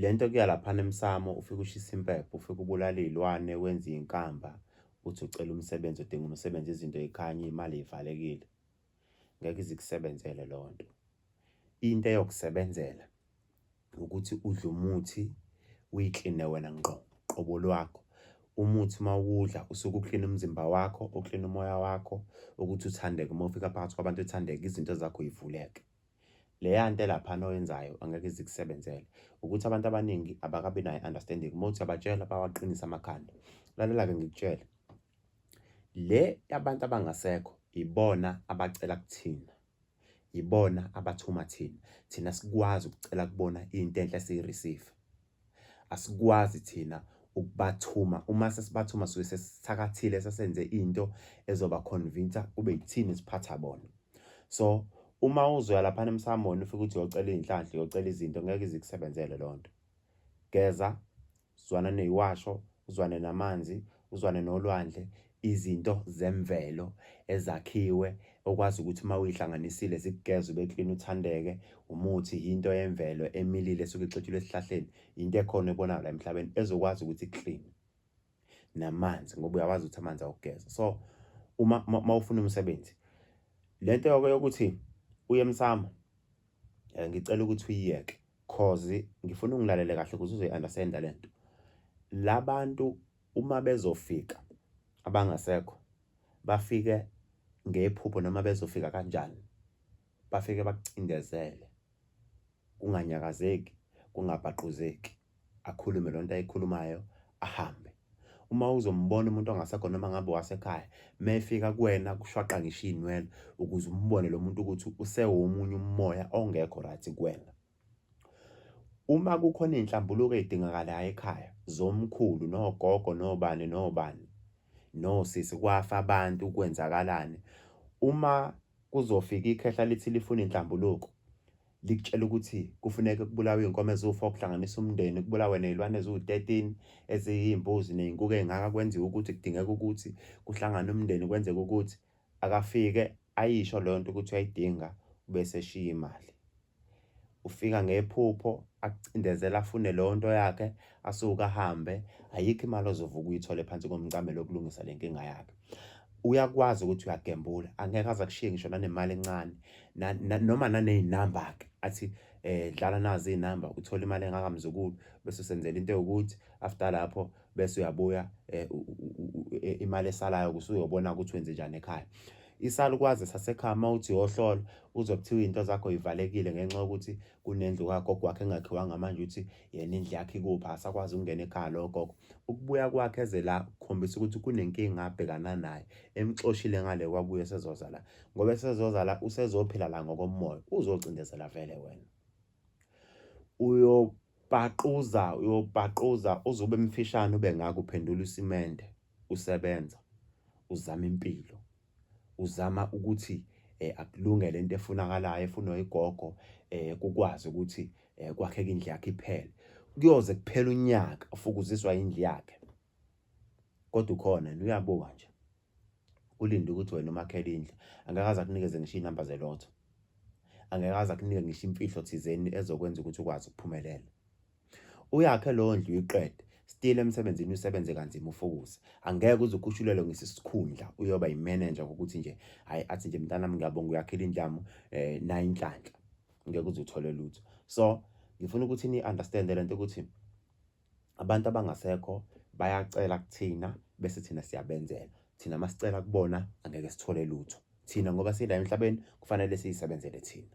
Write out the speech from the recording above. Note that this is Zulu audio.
Le nto kuya laphana emsamo ufike ushisa impepho ufike ubulala iy'lwane wenze iy'nkamba uthi ucela umsebenzi udinga umsebenzi izinto y'khanye imali ivalekile ngeke izikusebenzele leyo nto into eyokusebenzela ukuthi udle umuthi uyikline wena ngqo qobo lwakho umuthi uma uwudla usuke uklina umzimba wakho uklina umoya wakho ukuthi uthandeke uma ufika phakathi kwabantu uthandeke izinto zakho yivuleke leya nto elaphana oyenzayo angeke ize ikusebenzele ukuthi abantu abaningi abakabi nayo understanding uma uthi abatshela bawaqinisa amakhanda lalela-ke ngikutshele le yabantu abangasekho ibona abacela kuthina ibona abathuma thina thina sikwazi ukucela kubona into enhle siyireceive asikwazi thina ukubathuma uma sesibathuma suke sesithakathile sesenze into ezoba convince kube yithini siphatha bona so uma uzoya lapha emsamoni ufike ukuthi uyocela izinhlanhla uyocela izinto ngeke izikusebenzele lonto geza zwana neyiwasho uzwane namanzi uzwane nolwandle izinto zemvelo ezakhiwe okwazi ukuthi uma uyihlanganisile zikugeza ube clean uthandeke umuthi yinto yemvelo emilile esuke ixetshulwe esihlahleni yinto ekhona ebona la emhlabeni ezokwazi ukuthi clean namanzi ngoba uyawazi ukuthi amanzi awugeza so uma mawufuna umsebenzi lento yoko yokuthi uye emsamo eh, ngicela ukuthi uyiyeke cause ngifuna ungilalele kahle ukuze uzoyi understand lento labantu Uma bezofika abangasekho bafike ngephupho noma bezofika kanjani bafike bakucindezele kunganyakazeki kungabhaquzeki akhulume lonto ayikhulumayo ahambe uma uzombona umuntu ongasekho noma ngabe wasekhaya mefika kuwena kushwaqa ngisho izinwele ukuze umbone lo muntu ukuthi usewumunye umoya ongekho right kuwena Uma kukhona iy'nhlambuluko ey'dingakalayo ekhaya zomkhulu nogogo nobani nobani nosisi kwafa abantu kwenzakalani. Uma kuzofika ikhehla lithi lifuna iy'nhlambuluko likutshela ukuthi kufuneka kubulawe iy'nkomo eziwu-four kuhlanganisa umndeni kubulawe ney'lwane eziwu-thirteen eziyimbuzi ney'nkukhu ey'ngaka kwenziwe ukuthi kudingeka ukuthi kuhlangane umndeni kwenzeke ukuthi akafike ayisho leyo nto ukuthi uyayidinga bese eshiya imali. ufika ngephupho akucindezela afune leyo nto yakhe asuke ahambe ayikho imali ozovuka uyithole phansi komcamelo okulungisa le nkinga yakhe uyakwazi ukuthi uyagembula angeke aze akushiye ngisho nanemali encane noma naney'namba-ke athi um dlala nazi iy'namba uthole imali engakamzukulu bese usenzela into ewukuthi after lapho bese uyabuya eh, e, imali esalayo kusuyobona ukuthi wenze njani ekhaya isalukwazi sasekhaya uma uthi yohlolo uzokuthiwa into zakho ivalekile ngenxa yokuthi kunendlu kagogo wakhe engakhiwanga manje uthi yena indlu yakhe ikuphi asakwazi ukungena ekhaya lowo gogo ukubuya kwakhe eze la kukhombisa ukuthi kunenkinga abhekana naye emxoshile ngale kwabuye esezoza la ngoba esezoza la usezophila la ngokomoya uzocindezela vele wena uyobhaquza uyobhaquza uze ube mfishane ube ngaka uphendula isimende usebenza uzama impilo uzama ukuthi eh, akulunge lento efunakalayo efunwa igogo eh, kukwazi ukuthi eh, kwakheka indlu yakhe iphele kuyoze kuphela unyaka ufukuziswa indlu yakhe kodwa ukhona yena uyabuka nje ulinde ukuthi wena umakhele indlu angekaze akunikeze ngisho iy'namba zelotho angekaze akunike ngisho imfihlo thizeni ezokwenza ukuthi ukwazi ukuphumelela uyakhe leyo ndlu uyiqede still emsebenzini usebenze kanzima ufokuze angeke uze ukhushulelwe ngesisikhundla uyoba yimenenja kokuthi nje hayi athi nje mntanami ngiyabonga uyakhela indlu yami um eh, nayo inhlanhla ngeke uze uthole lutho so ngifuna ukuthi ni-understande le nto ukuthi Abantu abangasekho bayacela kuthina bese thina siyabenzela. Thina uma sicela kubona angeke sithole lutho. Thina ngoba sila emhlabeni kufanele siyisebenzele thina.